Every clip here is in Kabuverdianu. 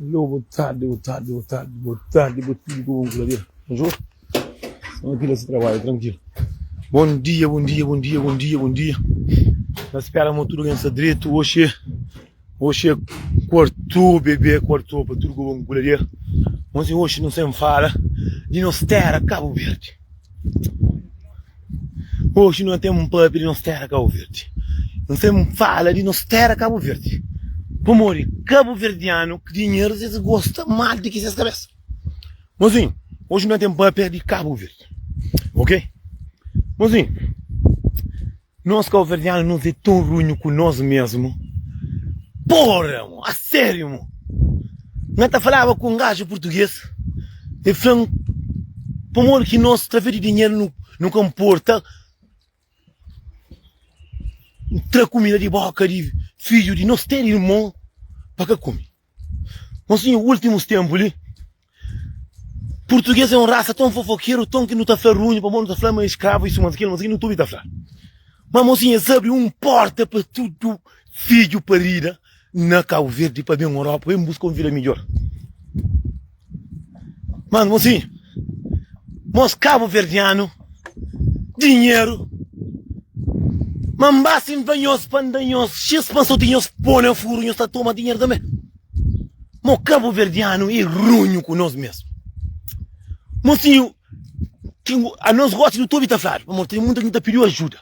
Alô, boa tarde, boa tarde, boa tarde, boa tarde, boa tudo com vamos ver. Bonjour. Vamos aqui nesse trabalho, tranquilo. Bom dia, bom dia, bom dia, bom dia, bom dia. Nós esperamos tudo ganhar direito hoje. Hoje é quarto, bebê, quarto, para tudo com vamos ver. Mas hoje não se fala de nós terra Cabo Verde. Hoje nós temos um pub de nossa terra Cabo Verde. Nós temos fala de nossa terra Cabo Verde. Como de Cabo Verdeano que dinheiro eles gostam mal de que vocês cabeça. Mozinho, hoje nós temos pub de Cabo Verde. Ok? Mozinho, Nos cauverdiano nos é tão runho ku nos mesmo porra mo a serio mo na ta falava ku um gajo português e flam pamodi ki nos traver de dinheiro nu nu ka mporta tra comida de boca de filho de nos ter irmon pa ka come. Mas nha últimus ténpu li, purtuges é un rasa ton fofokeru, ton ki nu ta fla runhu, pamodi nu ta fla ma é skravu, isu, mas kil, mas kil, nu ta obi ta fla. Má, mosinhu, es abri un pórta pa tudu fidju parida na Kauverdi pa ben Europa, ben buska un vida midjór. Mas, mosinhu, mos kabuverdianu dinheru ma N ba si N ba nhos pa N da nhos xis pa N soti nhos pô na furu nhos ta toma dinheru tanbê. Mo kabuverdianu é runhu ku nos mesmu. Mosinhu, ki ngo- a nos gosta do tobi ta fladu, pamodi tem muita gente ta pediu ajuda.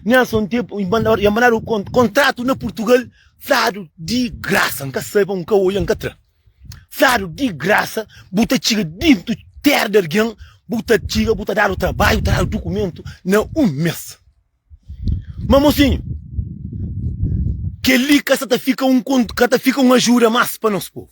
Nessa um tempo, e mandar, e mandar o con- contrato na Portugal, fladu di graça, nunca sei, pa nunca olha, nunca tra. Fladu di grasa bu ta txiga dintu tera di algen bu ta txiga bu ta dadu trabaiu tradu dukumentu na un mes ma mosinhu keli ka sa ta fika un ka ta fika un ajuda mas pa nos povu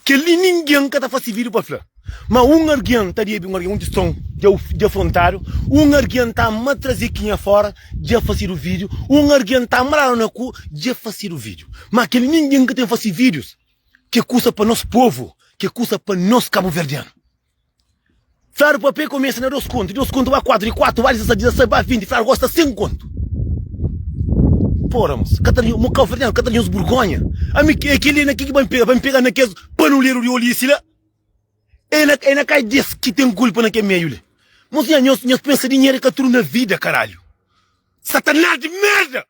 keli ninguem ka ta fasi vidu pa fla. Ma un argen ta debe un argen, un tistão dja dja frontado, un argen ta ma traze kinha fora dja facedo video, un argen ta ma lado na cu dja facedo video. Ma kel ninguem ka tem face videos ke kusa pa nos povo, ke kusa pa nos caboverdiano. Flado papê começa na dos conto, de dos conto ba quatro, de quatro ba dezesete, dezesete ba vinte, flado gosta cem conto. Pora mos, ka ta mo caboverdiano ka ta tem nos burgonha, ami é kel li na ke ke ba pega, ba pega na kes panulero de olhice la. E na e na kai des ki ten kulpa na kel meiu li. Mos nha nhos nhos pensa dinheru é ka tudu na vida karalhu. Satanás di merda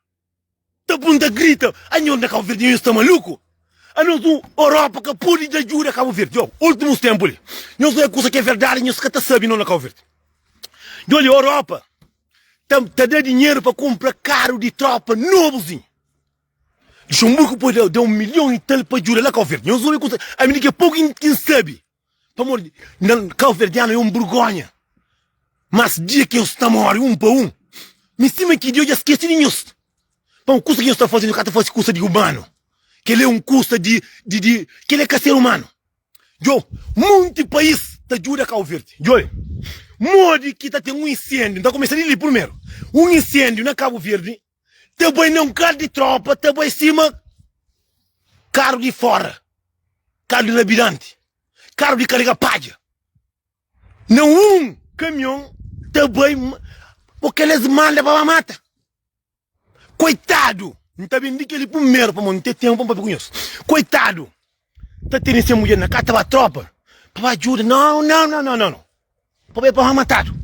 ta bun ta grita a nhos na Cabo Verde nhos sta maluku? Anos un Europa ka pudi da juda a Cabo Verde oh ultimus tempu li nhos oia kusa ki é verdadi nhos ka ta sabi no na Cabo Verde djo li Europa ta ta da dinheru pa kumpra karu di tropa nobuzinhu. Luxemburgo pode da un milhon y tal pa djuda la Cabo Verde. Nhos obi kuzê? Ami di ke poku ki N sabi. Pamodi di Nda, Cabo Verdiano é un burgonha. Mas dia ki nhos ta mori un pa un, mi stima ki dia eu dja skesi di nhos. Pamodi kusa ki nhos ta fase, nhos ka ta fase kusa di umano. Kel-li é un kusa di, di, di, kel-li é ka ser umano. Djo, monti pais ta djuda Cabo Verde. Djobe modi ki ta ten un insendiu, N ta kumesa di li purmeru. Un insendiu na Cabo Verde ta bai na un kar di tropa ta bai sima karu di fora karu di labidanti karu di karga padja na un kamion ta bai bo kel es manda pa ba mata koitadu nta ben di kel li primeru pamodi nte tenpu pa be kunhos koitadu ta tene se mulher na casa ba tropa pa ba ajuda não não não não não pa ba pa matado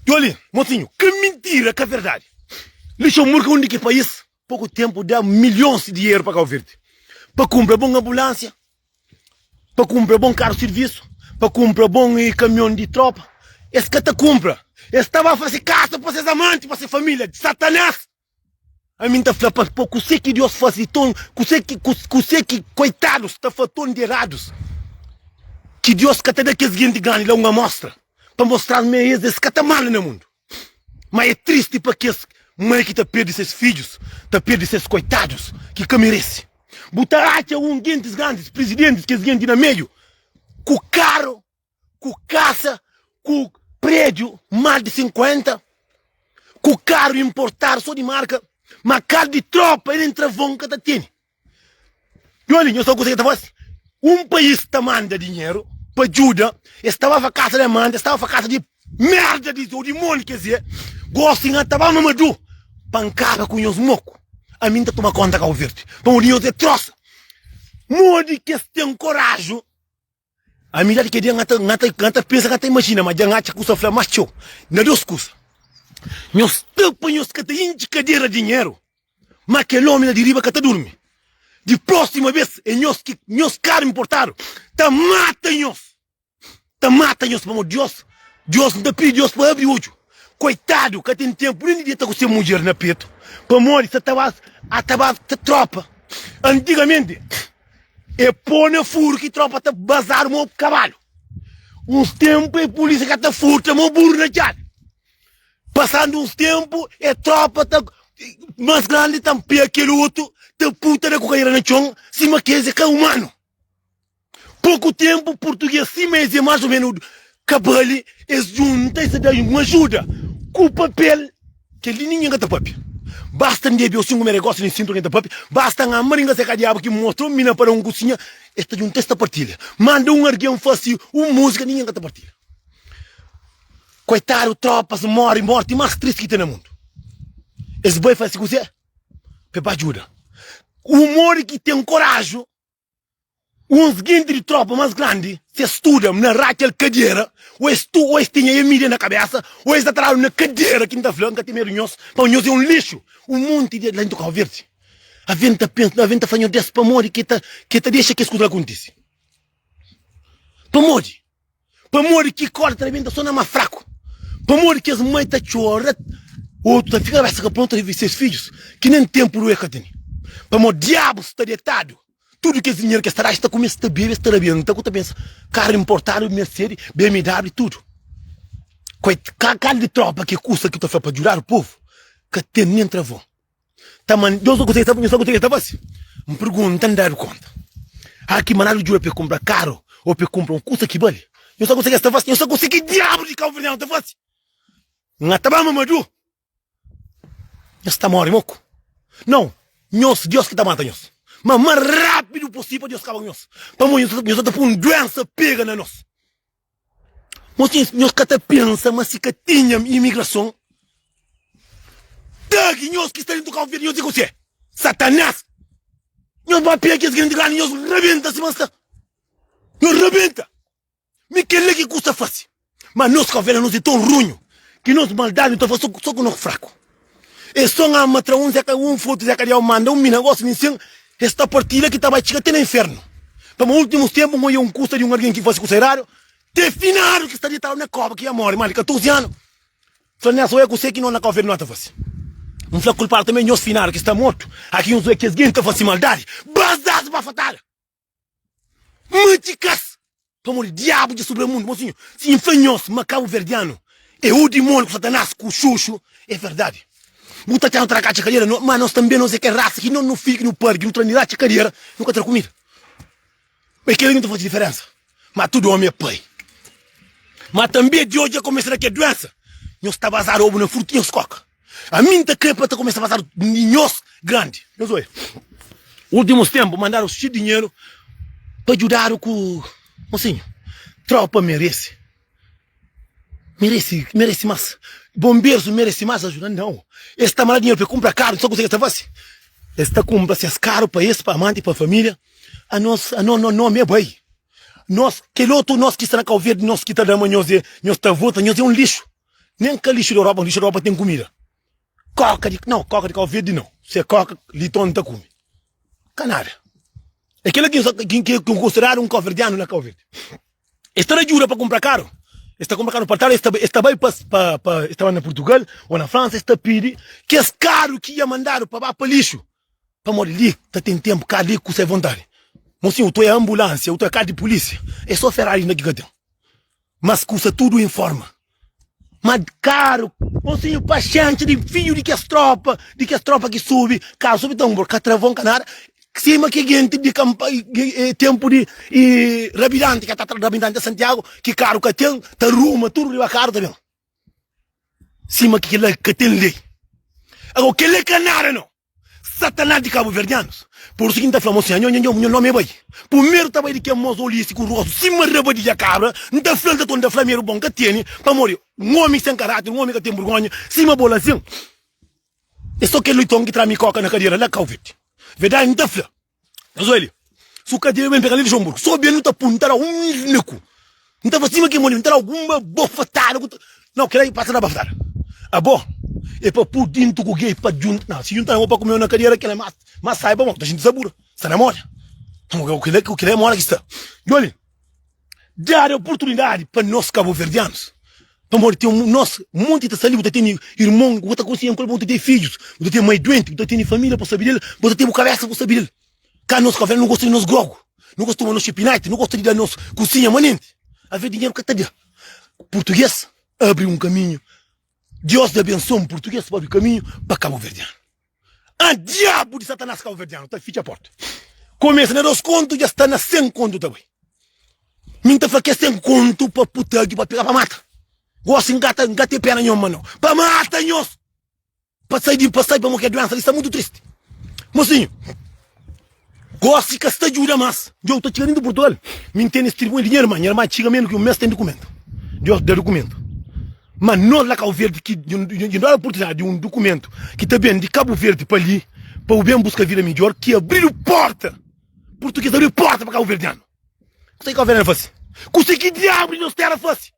Jolin mocinho que mentira que verdade Luxemburgo onde que país pouco tempo dá milhões de dinheiro para Cabo Verde para comprar bom ambulância para comprar bom carro serviço para comprar bom caminhão de tropa eles que ta compra eles estava a fazer casa para seus amantes para sua família de satanás Ami n ta fla pa bo, kuse ki Deus fase ton, kuse ki koitadus ta fla ton di eradus, ki Deus ka ta da kes genti grandi la un amostra, pa mostra-s ma es, es ka ta manda na mundu. Má é tristi pa kes mai ki ta perde ses fidjus, ta perde ses koitadus ki ka merese. Bu ta atxa un gentis grandis, prizidentis, kes genti na meiu ku karu ku kasa, ku prédiu más di 50, ku karu inportadu sô di marka, má karu di trópa i nen travon N ka ta tene. Djô li, nhos ta konsigi ta fla si un país ta manda dinheru pa djuda, es ta ba fla kasa de manda, es ta ba fla kasa di mérda di ô dimóni. K'ezê, gósi nha ta ba Mamadu pa N kaba ku nhos moku. Ami N ta toma kónta Kabuverdi, pamodi nhos é trósa. Modi ki es ten koraji Amizadi kel dia N ta pensa, N ta imajina ma dja N atxa kusa fla más txeu na dôs kusa Nhos ta pa nhos ka ta intxi kadera di dinheru Má kel ómi la di riba ka ta durmi Di prósima bês é nhos ki nhos karu inportadu ta mata nhos Ta mata nhos pamodi Diós Diós N ta pidi Diós pa abri odju Koitadu ka ten ténpu nen di deta ku se mudjer na petu Pamodi sa ta ba sa ta ba sa trópa Antigamenti. E pô na furu ki tropa ta bazadu mo kabalu Uns tenpu e pulisia ka ta furta mo buru na djabi Pasandu uns tenpu e tropa ta Mas grandi tanpe a kel otu ta puta da kukaira na txon sima kes e ka umanu Poku tenpu purtuges sima es e mas o menu Ka bale es djunta i seda-i un ajuda ku papel. Kel-li ningen ka ta pâpia. Basta N debe-u sin ku me negósiu di N sintu algen ta pâpia. Basta N ama ringa se ka diabu ki mostra-u mi na para un kusinha es ta djunta es ta partilha. Manda un argen fase un múzika ningen ka ta partilha. Koitadu trópas móre mórti más tristi ki ten na mundu. Es bai fase kuzê pa es ba djuda un móre ki ten koráju. Uns jinti di trópa más grandi si es studa-m na ratxa el kadiera ô es tu ô es tinha e mídia na kabésa ô es ta tra-m na kadiera ki N ta fla N ka ten medu nhos pamodi nhos é un lixu un monti di la intu Kau Verdi Avi N ta pensa avi N ta fla nhos des pamodi ki e ta dexa kes kuza la kontise pamodi. Pamodi ki korda ta rebenta so na ma fraku? Pamodi ki es mai ta txora, otu ta fika rabesa ka prontu ta vive ses fidjus, ki nen tenpu rue ka tene? Pamodi diabu sta detadu, tudu kes dinheru ki es ta da es ta kume, es ta bebe, es ta rabia. Nta ku ta pensa? Karu inportadu, Mercedes, BMW, tudu. Kal di tropa ki é kusa ki ta fla pa djudadu povu ka tene nen travon. Ta ma Deus ta gostá, nhos ta gostá, nhos ta fase? N pergunta, N dadu kónta? Hâ ki mandadu djuda pa el kunpra karu ô pa el kunpra un kusa ki bali? Nhos ta gostá ki es ta fase? Nhos ta gostá ki diabu di káuverdianu ta fase? N ata ba mamadu? Nhos ta móre moku? Nau, nhos, Deus ki ta mata nhos. Má más rápidu posível pa Deus kaba ku nhos, pamodi nhos ta ta pô un duénsa pega na nos. Nho tinha, nho ka ta pensa ma si ka tinha imigrason, ta ki nhos ki sta dentu Cabo Verde, nhos di kusé? Satanás! Nhos ba pega kes grandi grandi, nhos rabenta sima nsta. Nhos rabenta! Mi kela ki kusta fasi. Ma nos Cabo Verde nos e ton runhu ki nos maldadi ta fasi so ku nos fraku. Es ton ama tra uns é ka un frutus é ka Deus manda un mi na gosi mi sen es ta partida ki ta bai txiga te na infernu pama ultimus tempu un oia un kusa di un algin ki fasi kusa eradu te finadu ki sta ditadu na koba ki ia mori ma di 14 anu fla nes oia kuse ki nos na kau fedinot ta fasi un fla kulpadu ta me nhos finadu ki sta mortu aki un zoia ki es genti ta fasi maldadi bas das bafatada. Mati kas! Pamor di diabu dja sobra mundu. Mon sinho, si N fla nhos ma kabuverdianu é o dimoniu ku Satanás ku xuxu, é verdadi. Bu ta txá nu ta raka txi kadera, no, ma nos tanbe nos é kel rasa ki no, no fidju ki nu pardi, nu tra nirá txi kadera, nu ka tra kumida. Ma é kel-li ki nu ta faze diferensa. Ma tudu ómi é pai. Ma tanbe Dios dja komesa da kel duénsa. Nhos ta bazada obu na frutu ki nhos koka. A mi n ta krê pa ta kumesa pasadu nhos grandi. Nhos oja, últimus ténpu mandadu txu dinheru pa djudadu ku. Mosinhu, trópa merese. Merese, merese más. Bonberus merese más ajuda. Nau! Es sta mandadu dinheru pa e kunpra karu. N sabe kuzê ki es ta fase? Es ta kunpra ses karu pa es, pa amanti, pa família. Anos, anos, nos nómi é bai. Nos, kel otu nos ki sta na Kauverdi, nos ki ta da ma nhos é, nhos ta vota nhos é un lixu. nem ka lixo de Europa lixo de Europa tem comida coca de não coca de cabo verde não se é coca liton ta come ka nada é kela que que que considerado um cabo-verdiano na Cabo Verde eles ta ajuda para comprar caro eles ta comprar caro para tal eles ta eles ta vai para para para eles ta vai na Portugal ou na França eles ta pede que esse caro que ia mandado para ba para lixo pamodi li ta tem tempo carro li kusa é vontade mon senhor tu é ambulância ou tu é carro de polícia é só Ferrari ainda que ka tem Mas kusa tudu en forma. Ma karu Monsinhu paxenti di fidju di kes tropa di kes tropa ki subi karu subi tanbur ka travon ka nada sima ki genti di kanpa tempu di rabidanti ka ta rabidanti santiagu ki karu ka ten ta ruma tudu riba karu ta ben. Sima ki kila ka ten lei. Agora kel lei ka nada no. Satanás di kabuverdianus. Por isu ki N ta fla mo sin, Nho, nho, nho nomi é bai. Pumeru ta bai di kel mozoliu isi ku rostu sima rabadija kabra, N ta fla-l ta toma, N ta fla mi, Erubon ka teni, pamodi un omi sen karater, un omi ka ten burgonha, sima bo la sin. É so kel lei ton ki tra mi koka na kadera la, kau verde. Verdadi N ta fla. Nhos oi li. Si u ka debe ben pega li Luxemburgo, so ben nu ta pun, nu ta da un niku. Nu ta fla sima ki mon li, nu ta da algun bafatada ku ta. Nau, kila i pasa da bafatada. Abo e pa pu dintu ku gei pa djunta. Nau, si djunta na bo pa kumeu na kadiera, kila e mas. Mas saiba ma, bu ta xinti sabura. Sta na moda. Kila e moda ki sta. Djo li. Dadu oportunidadi pa nos kabuverdianus, pamodi ten nos monti ta sali, bu ta tene irmon ku bu ta konsi, enkuantu bu ta tene fidjus, bu ta tene mai duenti, bu ta tene familia pa sabi del, bu ta tene bu kabesa pa sabi del. Ka nos ka vel no gosta di nos grogu, no gosta di tuma nos xipinati, no gosta di da nos kusinha manenti. Aver dinheru ka ta da. Purtuges abri un kaminhu, Deus dja abensoa un purtuges pa abri kaminhu pa kabuverdianu. Ah diabu di satanás kauverdianu ta fitxa porta Komesa na dos kontu dja sta na sen kontu ta bai Mi N ta fla kes ten kontu pa putagi pa pega pa mata Gosi N ka ta N ka ten pena nho ma no pa mata nhos Pa sai di pa sai pamo ke duensa li sta mutu tristi Mosinhu. Gosi ka sta djuda mas. Djou ta txiga nenti Portugal mi ntende es tribunha di nha irma, nha irma txiga menu ki un mes ten dukumentu Dios da dukumentu ma nos la Cabo Verde ki djon dada oportunidade di un dukumentu ki ta ben di Cabo Verde pa li pa bu ben buska vida midjor ki abridu porta Portugues abridu porta pa Cabo Verdeano Kusé ki Cabo Verdeano fasi? Kusé ki diablu di nos terra fasi?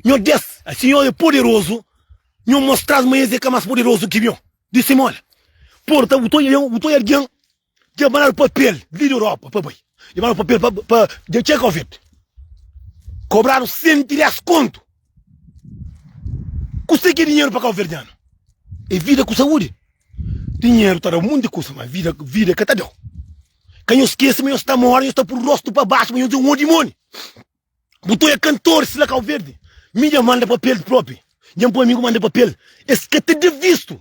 Nho des, asi nho e poderozu, nho mostra-s ma es e ka mas poderozu ki mion. Di si mol, Porta, bu ta oja mion, bu ta oja algen dja banadu papel di Europa pa bai, dja banadu papel pa pa dja txeka ovet, kobradu senti des kontu. Kusa ki é dinheru pa kauverdianu? É vida ku saúdi. Dinheru ta da monti kusa, ma vida, vida e ka ta da-u. Ka nho skese ma nho sta mori, nho sta puru rostu pa baxu, ma nho dja un odimoni. Botô é kantor sila Kau Verdi Mi dja manda papel propi Dja npoi mi ku manda papel Es ka ta da vistu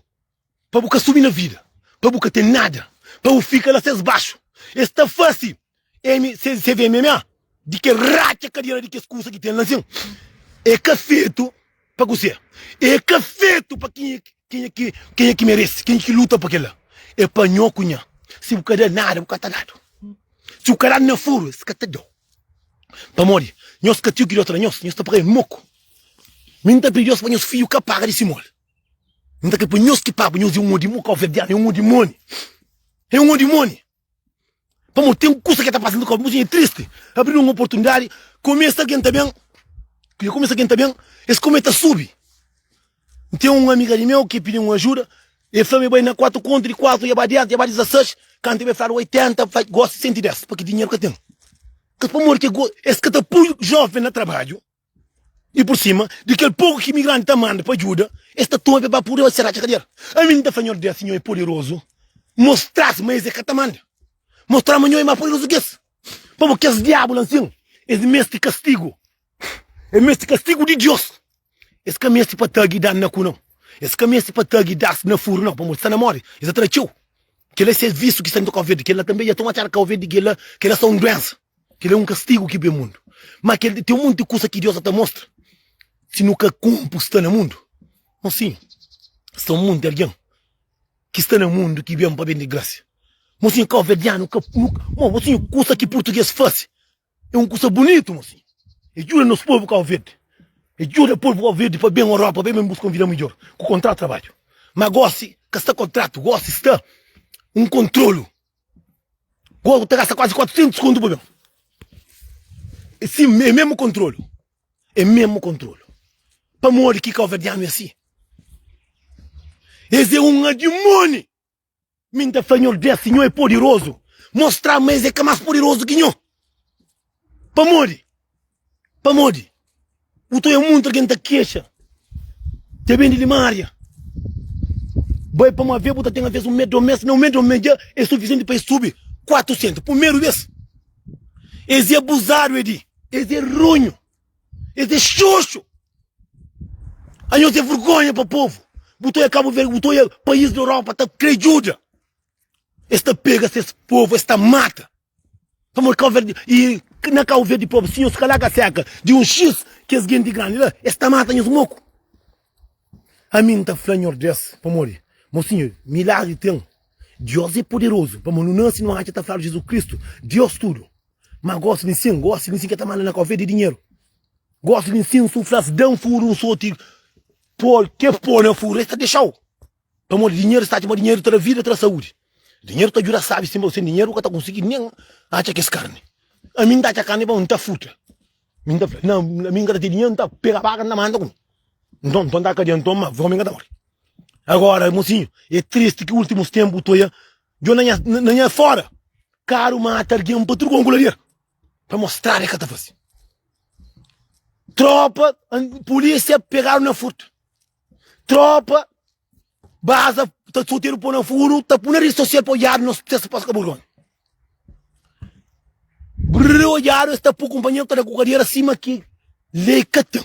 Pa bu ka subi na vida Pa bu ka ten nada Pa bu fika la ses baxu Es ta fasi M CVMMA Di kes ratxa kadera di kes kusa ki ten la nsin É ka fetu. Pa kuzê? É ka fetu pa kenha ki kenha ki kenha ki merese, kenha ki luta pa kel-la. É pa nho ku nha. Si bu ka da nada, bu ka ta dadu. Si bu ka dadu na furu, es ka ta da-u. Pamodi nhos ka tio ki dota na nhos, nhos ta paga el moku. Mi N ta pidi Deus pa nhos fidju ka paga di si moli. N ta krê pa nhos ki pagu nhos é un odimoni, kau verdianu, é un odimoni. É un odimoni! Pamo tem coisa que tá passando com a é triste. Abrir uma oportunidade, começa quem tá bem, que começa quem tá bem, esse como tá sube. Tem uma amiga de meu que pediu uma ajuda, e fala bem na 4 conto de 4, e abade, e abade 16, quando tiver falado 80, vai gosta 110, porque dinheiro que tem. Que por amor que esse que tá puro jovem na trabalho, I pur sima di kel poku ki imigranti ta manda pa djuda, es ta toma pe pa pudi oja se ratxa kadial. Ami N ta fla nhos, Dia si nho é poderozu, mostra-s ma es é ka ta manda. Mostra-s ma nho é más poderozu ki es. Pa bo, kes diabu la ansin, es meste kastigu. Es meste kastigu di Deus. Es ka meste pa tagi da-s na ku nau. Es ka meste pa tagi da-s na furu nau, pamodi si sta na móre, es ta tra txeu. Kel la é ses vísiu ki sta inda Kóvia di kel la tanbe. Dja toma txada Kóvia di kel la. Kel la sta un duénsa. Kel la é un kastigu ki ben mundu. Má kel li ten un monti kusa ki Deus sa ta mostra. Si nu ka kunpri sta na mundu, nu sin sta un monti algen ki sta na mundu ki ben pa bende grásia. Mo sin, Kóvia di anu ka. Mo, bo siñu, kusa ki purtuges faze. É un kusa bunitu ma si e djuda nos povu Kau Verdi, e djuda povu Kau Verdi pa ben Europa, pa ben buska un vida midjor ku kontratu trabadju. Ma gosi ka sta kontratu, gosi sta un kontrolu. Go ta gasta kuazi 400 kontu pa ben. E si e mesmu kontrolu, e mesmu kontrolu. Pamodi ki kauverdianu é si? Es é un adimoni! Minta Senhor Deus si nho é poderoso mostra ma es é ka mas poderoso ki nho pamodi pamodi bu ta oia muntu algen ta kexa dja ben di limaria bai pa ma vê bu ta ten avês un med domes na un med domes dja é sufisienti pa es subi 400 pumeru bes es é abuzado edi es é ronho Es é xoxo. Anhos é vergonha pa povo. Bu ta oia Cabo Verde, bu ta oia país na Europa ta crê djuda. Es ta pega ses povo, es ta mata. Pamodi Cabo Verde, e na Cabo Verde povo, si nhos cala caseca de um X, que es gente grande lá, es ta mata nhos moco. A mi N ta fla Nhordés, pamodi, mocinho, milagre tem. Deus é poderoso, pamodi nu nasce nu atxa ta fla Jesus Cristo, Deus tudo. Ma gosi di nsin, gosi di nsin ke ta manda na kofia di dinheru. Gosi di nsin su flas dam furu un soti pol ke po na furu es ta dexau. Pamodi dinheru es ta atxa ma dinheru ta da vida, ta da saudi. Dinheru ta djuda sabi sima u sen dinheru u ka ta konsigi nen atxa kes karni. Ami nta atxa karni pamodi nta futa. Mi nta fla na na mi nka ta ten dinheru nta pega baka nta manda kume. Nton nton nta kadia nton ma vomi nka ta mori. Agora mosinhu e tristi ki ultimus tempu u toia Djo na nha, na nha fora Karu mata argen pa truka un kularia Pa mostraba e ka ta fase Tropa, pulisia pegaru na furta Tropa, baza ta soteru po na furu Ta pu na redi sosial pa odiadu nos testa pa skaburgoni Brrr odiadu es ta pu kunpanheru ta da ku kadera sima ki lei ka ten.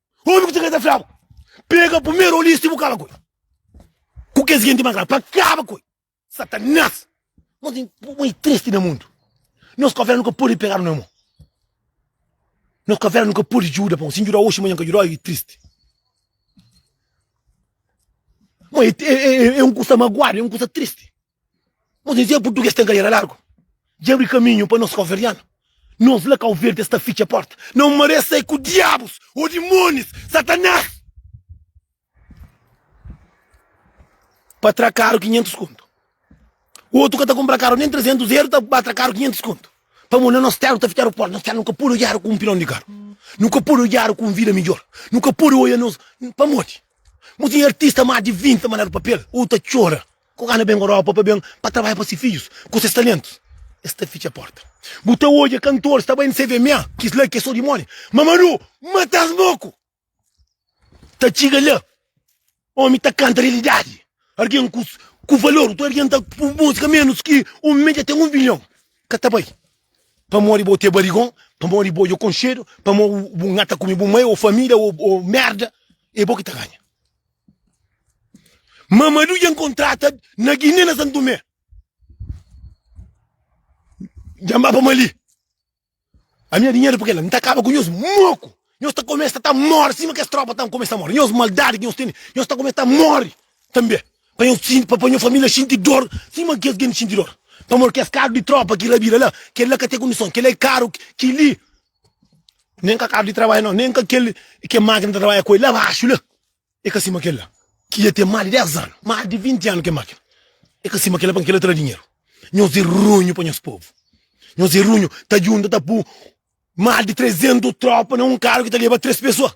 Omi ku ta kre ta fla bu, pega primeru olista i bu kaba ku el, ku kes jinti mas grandi, pa kaba ku el. Satanás! Nos ten pui i tristi na mundu. Nos kafera nu ka pudi pegadu na mo. Nos kafera nu ka pudi juda pa un. Si N judau osi, manha N ka judau, i tristi. Mo, e un kusa maguadu, e un kusa tristi. Nos dizia português tem carreira largo Dja abri caminho pa nos cauverdiano Nos la Cauverdes ta fitcha porta Não maré sai ku diabos ou dimones Satanás Pa tra caro 500 conto Outro ka ta compra caro nem 300 euro ta ba tra caro 500 conto Pamo na nos terra ta fitchado porta Nos terra nu ka pode odiado ku um pilão de carro Nu ka pode odiado ku um vida melhor Nu ka pode oia nos Pamodi Mo tem artista más de 20 ta mandado papel Ou ta chora Ku gana ben Europa pa ben pa trabadja pa si fidjus ku ses talentus es ta fitxa porta bu ta odja kantor sta bai n'sé vma kis la ki é so dimoni Mamadou matas boku ta txiga la omi ta kanta realidadi argen ku ku valor otu argen ta ku musika menus ki un medja ten un bilhon ka ta bai pamodi bo tê barigon pamodi bo odja konxedu pamo bu ngata kumi bu mai o famida o o merda é bo ki ta ganha. Mamadu dja encontrata na Guiné na Santo Tomé. Dja mba pa Mali. A minha dinheiro porque ela não tá acaba com nós moco. Nós tá começa a tá morre cima que as tropas tá começa a morre. Nós maldade que nós tem, nós tá começa a morre também. Para nós sim, para minha família sentir dor, cima que as gente sentir dor. Para morrer que as carro de tropa que rabira lá, que lá que tem condição, que lá é caro, que li Nem ka cabo de trabalha não, nem ka kel ke máquina ta trabalha com el lá baxo lá, e ka sima kel lá ki ya tem mais de 10 anos, mais de 20 anos ke máquina, e ka sima kel lá pa kel lá tra dinheiro. Nhos é runho pa nhos povo, nhos é runho ta junta ta pun mais de 300 tropa na um carro ki ta leba 3 pessoa.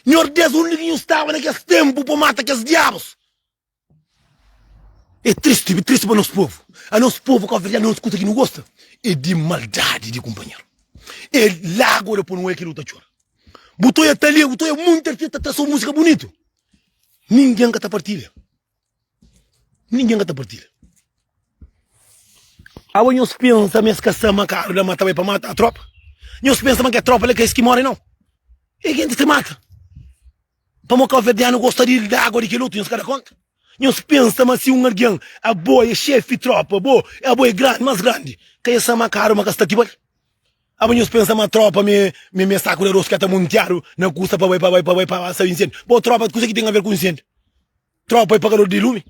Nhos dez onde ki nhos tava na kes tempo pa mata kes diabos. É tristi, é tristi pa nos povu. A nos povu kabuverdianu nos kusa ki nu gosta é di maldadi di kunpanheru. É lágua da punu, é ki nu ta txora. Bu ta oja talé, bu ta oja monti artista ta tra sô músika bunitu, ningen ka ta partilha, ningen ka ta partilha. Aba nhos pensa ma es ka sta ma karu da mata bai pa mata tropa? Nhos pensa ma ke tropa la ka es ki móre nau? É jenti ki mata. Pamô káuverdianu gosta di da água di kel otu, nhos ka da kónta? Nhos pensa ma si un algen, abo é xefi trópa, abo é abo é grandi, más grandi, ka é sa ma karu ma ka sta ti ba li? Abo nhos pensa ma trópa mi mi é saku di aros ki ka ta muntiadu na kusa pa bai pa bai pa bai pa ba sa inséndiu? Bo trópa, kuzê ki ten aver ku inséndiu? Trópa é pagador di lumi?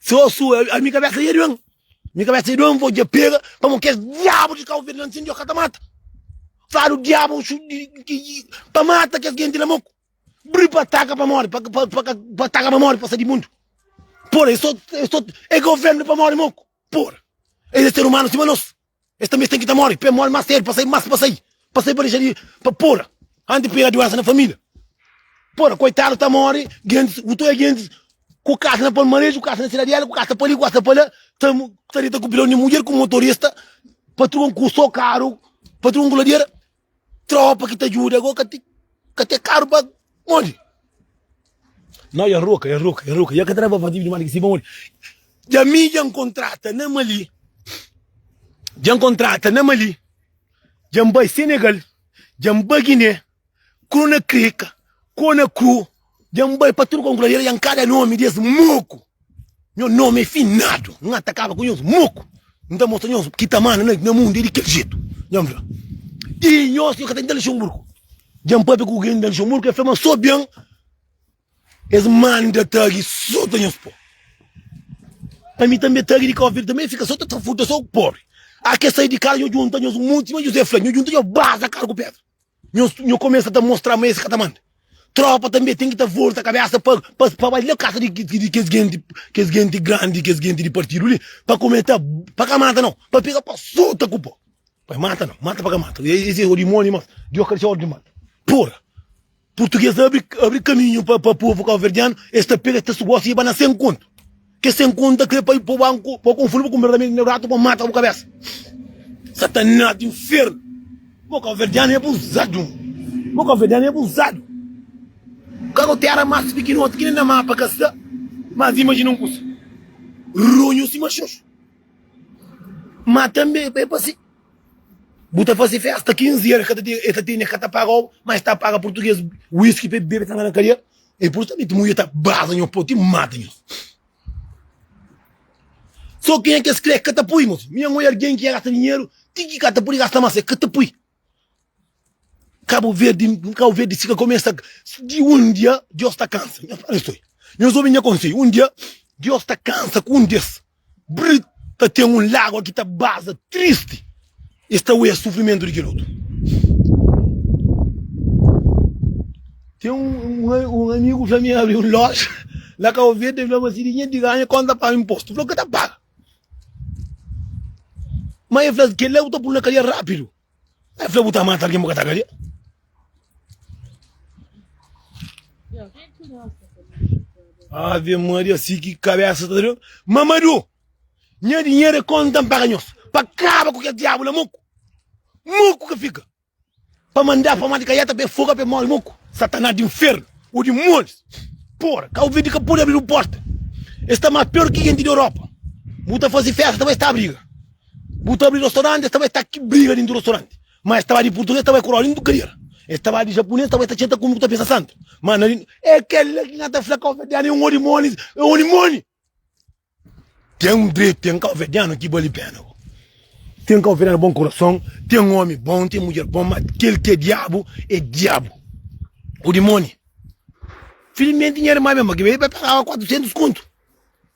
Sô su a mi kabésa ia duê-m Mi kabésa ia duê-m, vô dja pega Pamo kes diabu di Cabo Verde la N'sindi-o ka ta mata Fadu diabu pa mata kes genti la Mô-ku bri pa ataka pa móre Pa ka pa ataka pa móre pa sa di mundu Pô-ra, e sô, e sô É govérnu di pa móre, Mô-ku, pô-ra Es é ser umanu sima nos Es tanbe ten ki ta mori, pa e mori mas sedu, pa sai mas pa sai, pa sai pa dexa di pa pura, anti pira duensa na familia. Pura koitadu ta mori, gentis ku tue gentis ku kas na Palmares, ku kas na Sidadiela, ku kas ta pali, ku kas ta pala, ta ta dita ku pilon di mudjer, ku motorista, patron ku so karu, patron ku ladiera. Tropa ki ta djuda go ka ti ka te karu pa onde? Nau ya roka, ya roka, ya roka, ya ka traba fativi dimás di ki si pa onde? Dja mi dja nkontrata na Mali, dja nkontrata na Mali, dja nbai Senegal, dja nbai Guiné, Kronakri, Ka, Konakru, Dja N bai pa tudu konkula Dja N kada nomi di es moku Nhos nomi é finadu N atakaba ku nhos moku N ta mostra nhos ki ta manda na mundu é di kel jetu Dja N fla Di nhos nhos ka ta nta Luxemburgu Dja N papia ku algen na Luxemburgu el fla ma so ben es manda tagi so ta nhos po Pa mi tanbe tagi di Cabo Verde tanbe el fika so ta ta futa so pobri Ake sai di kasa nhos djunta nhos monti sima José fla nhos djunta nhos baza kadu ku pedra. Nho, nho começa ta mostra ma esse ka ta manda tropa tambê tem ki ta volta cabeça pa pa pa bai la casa di di kes gente kes gente grande kes gente di partido li pa comenta pa ka mata nau pa pega pa sota ku po bai mata nau mata pa ka mata esse o dimoni mas di oca disa ordem manda porra portugues abre abre caminho pa pa povo cabo verdiano esse ta pega esse ta sugosi e ba na sem conto Kes sem konta kre pa i po banku pa konfundu bu ku me ramigu me ratu pa mata bu kabesa satanas di infernu bo kaverdianu e abuzadu bo kaverdianu e abuzadu kago tera mas pikinoti ki nen na mapa ka sta mas imajina un kusa runhu sima xoxu ma tambe e pa si bu ta fase festa 15 er e ka ta tene ka ta paga oba ma e sta paga purtuges wiski pa e bebe ta na kadia. E por sabe ti mulher ta baza nho poti mata nho so kenha kes kre kata pui moço minha mui argen ki gasta dinheiro ti ki kata puri gasta mas e kata pui cabo verde cabo verde fica começa de um dia Deus ta cansa nho fala isso nho ouvi nho aconselho um dia Deus ta cansa com um des Brit ta ten un lágua ki ta baza tristi. Es ta oia sufrimentu di kel otu. Ten un, un amigu fla mi el abri un loja la Cabo Verde, el fla ma si dinheru di ganha kónta ta paga inpostu? Fla, Ka ta paga. Má el fla, Kel-la bu ta pul na kadia rápidu. Ai fla bu ta mata algin bu ka ta gadia. Ave Maria si ki kabesa ta doe. Mamadu nha dinheru é konta n paga nhos pa kaba ku kes diabu la muku muku ka fika pa manda pa mati kaiata pa e foga pa e mori muku satanas di infernu o dimonius pora kau verde ka podi abridu porta e sta ma pior ki genti di Europa bu ta fasi festa ta bai sta briga. Bu ta abri rostoranti, es ta bai ta ki briga dintu rostoranti. Ma es ta bai di purtuges, es ta bai ku roda dintu kadera. Es ta bai di japunês, es ta bai ta txenta ku un ku ta pensa santu. Ma na di. É kel la ki na ta fla kauverdianu é un odi moli, é odi moli. Ten un dretu, ten kauverdianu ki bali pena bo. Ten kauverdianu bon kurason, ten omi bon, ten mudjer bon, ma kel ki é diabu, é diabu, odi moli. Filmenti nha irma ben ba ki bai, el bai pagaba 400 kontu.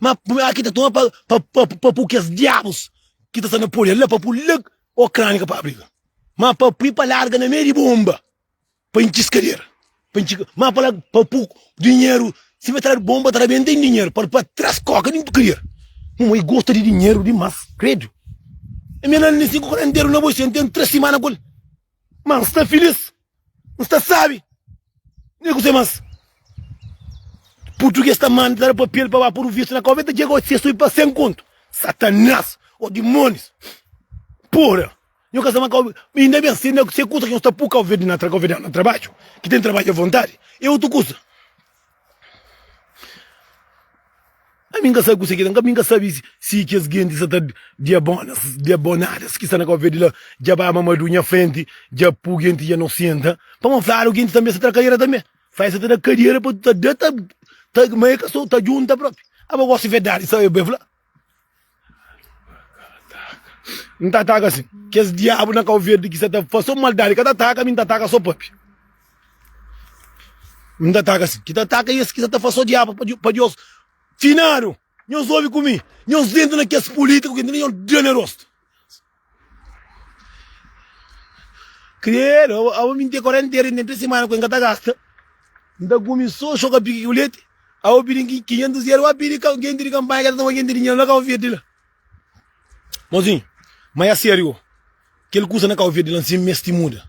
Ma ma ki ta toma pa pa pa pa pu kes diabus ki ta sta na Polha la pa pu la Okranika pa abriga. Ma pa pu pa larga na mei di bomba pa intxi skadera pa intxi ma pa la pa pu dinheru si be tradu bomba tra ben ten dinheru pa pa tras koka dintu kadera. Muma i gosta di dinheru dimas kredu. Ami na na na sinku ku na nteru na bo isi ami ten tras simana ku el ma nsta filis Nu sta sabi ne kuzê mas purtuges ta manda ta da papel pa ba podu vistu na Kau-Veta dje gosi es subi pa 100 kontu satanás o dimonius pura nho ka sta ma Kau-Verde inda ben se na se kusa ki nho sta pu Kau-Verde na tra Kau-Verdeanu na trabadju ki ten trabadju a vontadi e otu kusa Ami nka sabi kuse ki ta nka, ami nka sabi si kes genti sa ta diabonas diabonadas ki sta na Kabo Verdi la dja ba mamadu nha frenti dja pu genti dja no senta pa ma fladu genti tanbe sa ta da kadera tanbe fai sa ta da kadera pa ta da ta ta ma e ka so ta djunta propi aba gosi verdadi sa e be fla. N ta ataka sin. Kes diabu na kau verdi ki sa ta fase un maldadi ka ta ataka mi, N ta ataka so pape. N ta ataka sin. Ki ta ataka es ki sa ta fase so diabu pa Deus. Finadu, nhos obi ku mi, nhos dentu na kes pulitiku ki nhos da ne rostu. Credo, abo mi n ten quarentena n ten tres semana ku e n ka ta gasta, n ta gumi so xoka piki ku leti, abo pidi ki kinhentus eru a pidi genti di kanpanha ke ta toma genti di dinheru na kau verdi la, mozinhu ma e serio kel kusa na kau verdi la nsin mes ti muda,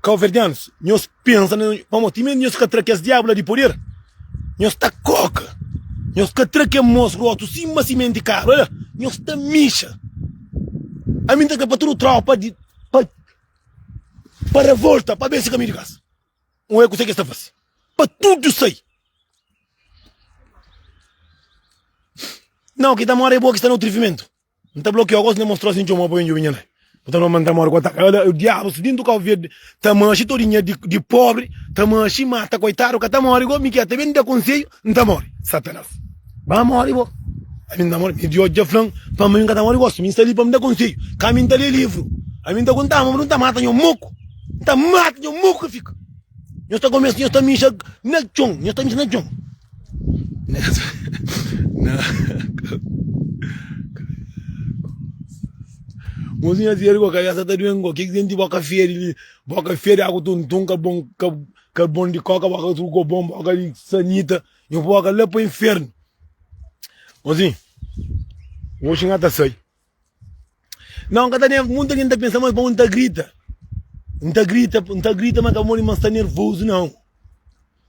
kauverdianus nhos. Pensa na pamo ti mé nhos ka tra kes diabu la di poder nhos ta koka nhos ka tra ke mos rotu sima simenti karu ola nhos ta mixa ami nta kre pa tudu tropa di pa pa revolta pa besi kaminhu di kas un e kuse ke sta fasi pa tudu sai nau ki ta mora e bo ki sta na utri fimentu. N ta blokiau gosi, N ta mostra-u asin txeu, ma bu poi un djubi nha nai. Bu ta fla ma N ta móre ku ataka. Ala, el diabu sta dentu kopu verdi, ta manxi tudu nha di pobri, ta manxi, mata koitadu, ka ta móre go, mi ki el ta ben da konseiu, N ta móre. Satanas, ba móre bo, ami N ta móre. Mi di oji dja fla-m, pa mi N ka ta móre gosi, mi N sta li pa N da konseiu, ka mi N ta lé livru. Ami N ta konta-u, ma bu ta mata nha moku, N ta mata nha moku ka fika. Nhos ta kumesa, nhos ta minxa na txon, nhos ta minxa na txon. Mozinha séria ku kabésa ta duengo Kiki senti boka féri li Boka féri agu tuntun Ka bon ka ka bon di koka Boka suku ko bon boka di sanita Nhu boka la pa infernu Mozinha Oxi nha ta sai Não, nka ta nerv, muita gente ta pensa ma é pa un ta grita, nta grita, nta grita ma ka modi ma sta nervoso não,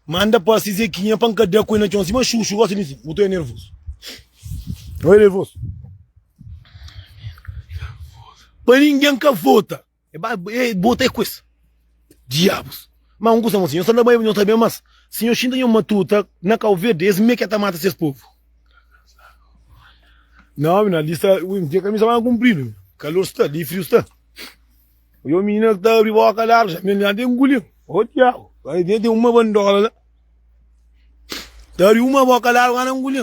ma anda pasi zequinha pa nka da ku el na txon sima xuxu gosta di nsin, bu ta oe nervoso, oe nervoso, pa ninguém ka vota. E ba e bota e kues diabus. Ma un kusa mo si nho sa na Baiba nho ta ben mas si nho xinta nho matuta na Kau Verde es me ke ta mata ses povu. Na omi na li sta ui nte kamisa manga kumpridu mi. Kalor sta li friu sta. Oja un minina ki ta abri boka largu sa mi na te nguli o diabu. Ai nte ten uma bandola la. Ta abri uma boka largu ana nguli.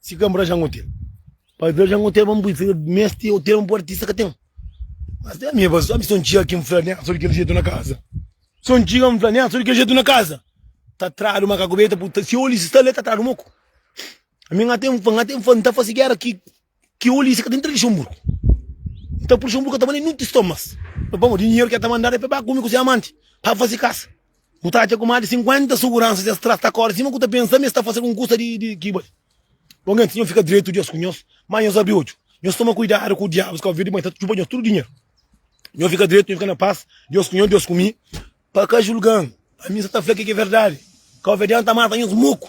Si ka mora jango ten. Pa bia jango ten pa mui fla mesti o tempo artista ka ten. Mas ten ami pa so ami so n txiga ki n fla nen so di kel jetu na kaza. So n txiga n fla nen so di kel jetu na kaza. Ta tradu makaku beta pu ta si Ulisses ta le ta tradu moku. Ami n até n fla n até n fla n ta fase gera ki ki Ulisses ka ta intra Luxemburgo. Nta Luxemburgo ka ta bane nuntis tomas. Pamodi dinheru ki el ta mandadu e pa el ba kumi ku se amanti pa fase kasa. Bu ta atxa ku más di 50 suguransa dja sta ta kóre sima ku ta pensa ma es ta fase algun kusa di ki bai. Bo nganti nhos fika dretu di osi ku nhos, má nhos abri odju. Nhos toma kuidadu ku diabus Kabu Verdi ma el ta txupa nhos tudu dinheru. Nhos fika dretu, nhos fika na pas di osi ku nhos, di osi ku mi, pa ka julga-m. Ami sta ta fla kel ki é verdadi, Kabuverdianu ta mata nhos muku.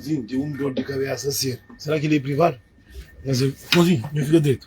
Sim, ten un dor di kabesa seru. Sera ki li e privadu? N fika dretu.